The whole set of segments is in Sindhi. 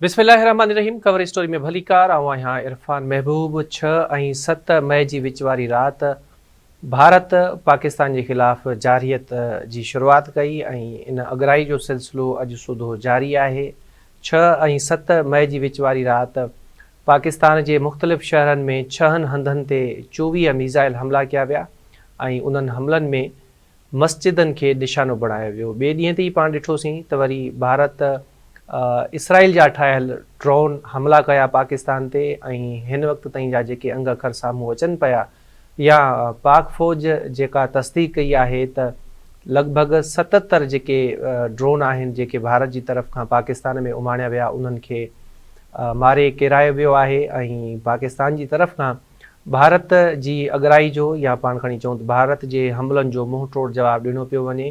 بسم الله الرحمٰن الرحيم ڪور اسٽوري ۾ ڀليڪار آئون آهيان عرفان محبوب ڇهه ۽ ست مئي جي وچ واري رات ڀارت پاڪستان جي خلاف جارحيت جي شروعات ڪئي ۽ ان اڳرائي جو سلسلو اڄ سوڌو جاري آهي ڇهه ۽ ست مئي جي وچ واري رات پاڪستان جي مختلف شهرن ۾ ڇهن هنڌن تي چوويهه ميزائل حملا ڪيا ويا ۽ انهن حملن ۾ مسجدن کي نشانو بڻايو ويو. ٻئي ڏينهن تي ئي پاڻ ڏٺوسين ته وري ڀارت اسرائيل جا اٺاهيل ڊرون حملا ڪيا پاڪستان تي ۽ هن وقت تائين جا جيڪي انگ اکر سامهون اچن پيا يا پاڪ فوج جيڪا تصديق ڪئي آهي ته لڳ ڀڳ ستتر جيڪي ڊرون آهن جيڪي ڀارت جي طرف کان پاڪستان ۾ اماڻيا ويا انهن کي ماري ڪيرايو ويو آهي ۽ پاڪستان جي طرف کان ڀارت جي اڳرائي جو يا پاڻ کڻي چئون ته ڀارت جي حملن جو منهن ٽوڙ جواب ڏنو پيو وڃي.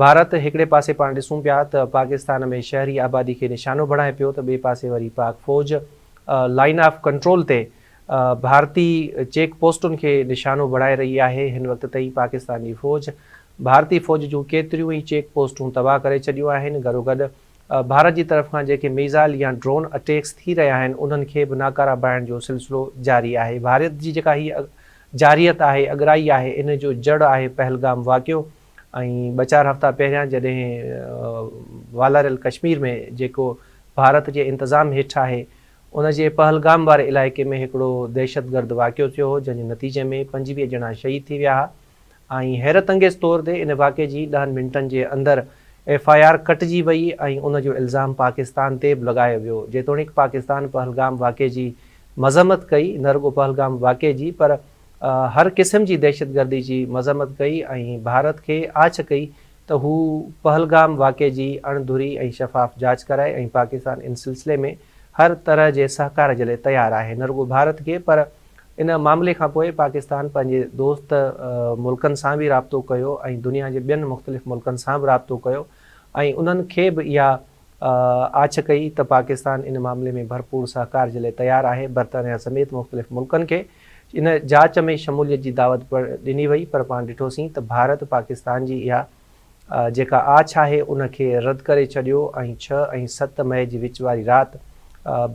ڀارت هڪڙي پاسي پاڻ ڏسون پيا ته پاڪستان ۾ شهري آبادي کي نشانو بڻائي پيو ته ٻئي پاسي وري پاڪ فوج لائن آف ڪنٽرول تي ڀارتي چيڪ پوسٽن کي نشانو بڻائي رهي آهي. هن وقت تائين پاڪستان جي فوج ڀارتي فوج جون ڪيتريون ئي چيڪ پوسٽون تباهه ڪري ڇڏيون آهن. گڏوگڏ ڀارت جي طرف کان جيڪي ميزائل يا ڊرون اٽيڪس ٿي رهيا آهن انهن کي به ناڪاره بڻائڻ جو سلسلو جاري آهي ڀارت جي جيڪا هي جارحيت آهي اڳرائي آهي ان جو جڙ آهي پهلگام واقعو ۽ ٻه چار هفتا پهريان جڏهن والاريل ڪشمير ۾ جيڪو ڀارت جي انتظام هيٺ آهي ان جي پهلگام واري علائقي ۾ هڪڙو دهشتگرد واقعو ٿيو هو جنهن جي نتيجي ۾ پنجويهه ڄڻا شهيد ٿي ويا ها ۽ حيرت انگيز طور تي ان واقعي جي ڏهن منٽن جي اندر ايف آء آر ڪٽجي وئي ۽ ان جو الزام پاڪستان تي به لڳايو ويو جيتوڻيڪ پاڪستان پهلگام واقعي جي مذمت ڪئي نه رڳو پهلگام واقعي جي پر هر قسم جي دهشتگردي جي مذمت ڪئي ۽ ڀارت کي آڇ ڪئي ته هو پهلگام واقعي جي اڻ ڌري ۽ شفاف جاچ ڪرائي ۽ پاڪستان ان سلسلي ۾ هر طرح جي سهڪار جي لاء تيار آهي نه رڳو ڀارت کي پر ان معاملي کانپوء پاڪستان پنهنجي دوست ملڪن سان به رابطو ڪيو ۽ دنيا جي ٻين مختلف ملڪن سان به رابطو ڪيو ۽ انهن کي به اها آڇ ڪئي ته پاڪستان ان معاملي ۾ ڀرپور سهڪار جي لاء تيار آهي. برطانيا سميت مختلف ملڪن کي ان جاچ ۾ شموليت جي دعوت به ڏني وئي پر پاڻ ڏٺوسين ته ڀارت پاڪستان جي اها جيڪا آڇ آهي ان کي رد ڪري ڇڏيو ۽ ڇهه ۽ ست مئي جي وچ واري رات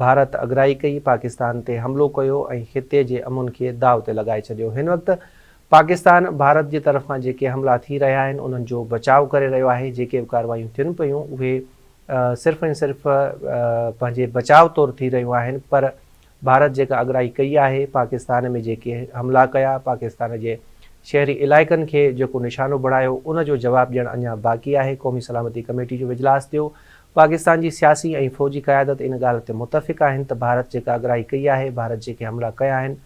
ڀارت اڳرائي ڪئي پاڪستان تي حملو ڪيو ۽ خطي جي امن کي داء تي لڳائي ڇڏيو هن وقت پاڪستان ڀارت جي طرفان جيڪي حملا ٿي رهيا آهن انهن جو بچاء ڪري رهيو آهي جيڪي به ڪاروايون ٿين پيون اهي صرف ۽ صرف پنهنجي بچاء طور ٿي رهيون آهن پر ڀارت جيڪا اڳرائي ڪئي آهي، پاڪستان ۾ جيڪي حملا ڪيا، پاڪستان جي شهري علائقن کي جيڪو نشانو بڻايو، ان جو جواب ڏيڻ اڃا باقي آهي، قومي سلامتي ڪميٽي جو اجلاس ٿيو، پاڪستان جي سياسي ۽ فوجي قيادت ان ڳالهه تي متفق آهن ته ڀارت جيڪا اڳرائي ڪئي آهي، ڀارت جيڪي حملا ڪيا آهن،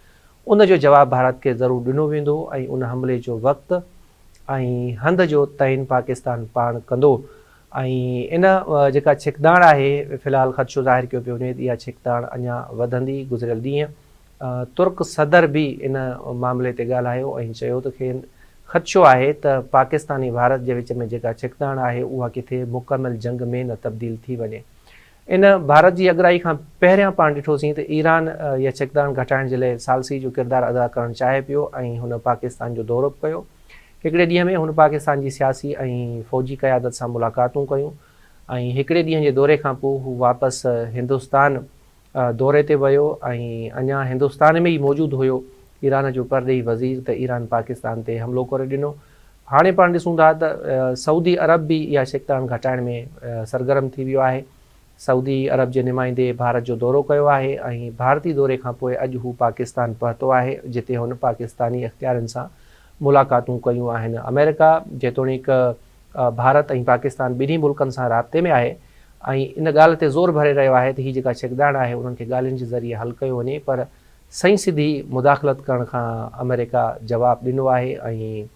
ان جو جواب ڀارت کي ضرور ڏنو ويندو ۽ ان حملي جو وقت ۽ هنڌ جو تعين پاڪستان پاڻ ڪندو. ۽ ان جيڪا ڇڪتاڻ آهي في الحال خدشو ظاهر ڪيو پيو وڃي ته اها ڇڪتاڻ اڃا وڌندي، گذريل ڏينهن ترڪ صدر به ان معاملي تي ڳالهايو ۽ چيو ته کين خدشو آهي ته پاڪستان ۽ ڀارت جي وچ ۾ جيڪا ڇڪتاڻ آهي اها ڪٿي مڪمل جنگ ۾ نه تبديل ٿي وڃي ان ڀارت جي اڳرائي کان پهريان پاڻ ڏٺوسين ته ايران يا ڇڪتاڻ گهٽائڻ جي لئه ثالثي جو ڪردار ادا ڪرڻ چاهي پيو ۽ هن پاڪستان جو دورو به ڪيو. هڪڙي ڏينهن ۾ هن پاڪستان جي سياسي ۽ فوجي قيادت سان ملاقاتون ڪيون ۽ هڪڙي ڏينهن جي دوري کان پوء هو واپس هندستان دوري تي ويو ۽ اڃا هندستان ۾ ئي موجود هيو ايران جو پرڏيهي وزير ته ايران پاڪستان تي حملو ڪري ڏنو هاڻي پاڻ ڏسون ٿا ته سعودي عرب به اها ڇڪتاڻ گهٽائڻ ۾ سرگرم ٿي ويو آهي. سعودي عرب جي نمائندي ڀارت جو دورو ڪيو آهي ۽ ڀارتي دوري کانپوء اڄ هو پاڪستان پهتو آهي جتي هن پاڪستاني اختيارين سان ملاقاتون ڪيون آهن. آمريڪا جيتوڻيڪ ڀارت ۽ پاڪستان ٻنهي ملڪن سان رابطي ۾ آهي ۽ ان ڳالهه تي زور ڀري رهيو آهي ته هي جيڪا ڇڪداڻ آهي انهن کي ڳالهين جي ذريعي حل ڪيو وڃي پر سائين سڌي مداخلت ڪرڻ کان آمريڪا جواب ڏنو آهي ۽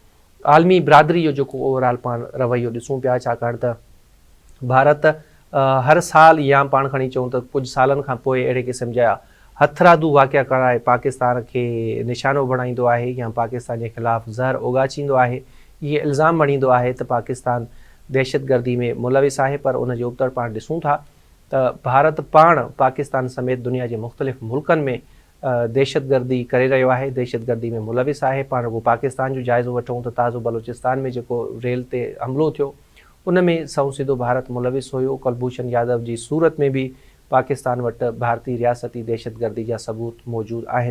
عالمي برادري جو جيڪو اوورآل پاڻ رويو ڏسون پيا ڇاڪاڻ ته ڀارت هر سال يا پاڻ کڻي چئون ته ڪجهه سالن کان پوء اهڙي قسم جا هٿرادو واقعا ڪرائي پاڪستان کي نشانو بڻائيندو آهي يا پاڪستان جي خلاف زهر اوڳاڇيندو آهي ۽ الزام مڙهيندو آهي ته پاڪستان دهشتگردي ۾ ملوث آهي پر ان جي ابتڙ پاڻ ڏسون ٿا ته ڀارت پاڻ پاڪستان سميت دنيا جي مختلف ملڪن ۾ دهشتگردي ڪري رهيو آهي، دهشتگردي ۾ ملوث آهي، پاڻ رڳو پاڪستان جو جائزو وٺون ته تازو بلوچستان ۾ جيڪو ريل تي حملو ٿيو ان ۾ سنئون سيڌو ڀارت ملوث هيو، ڪلڀوشن يادو جي صورت ۾ به پاڪستان وٽ ڀارتي رياستي دهشتگردي جا ثبوت موجود آهن.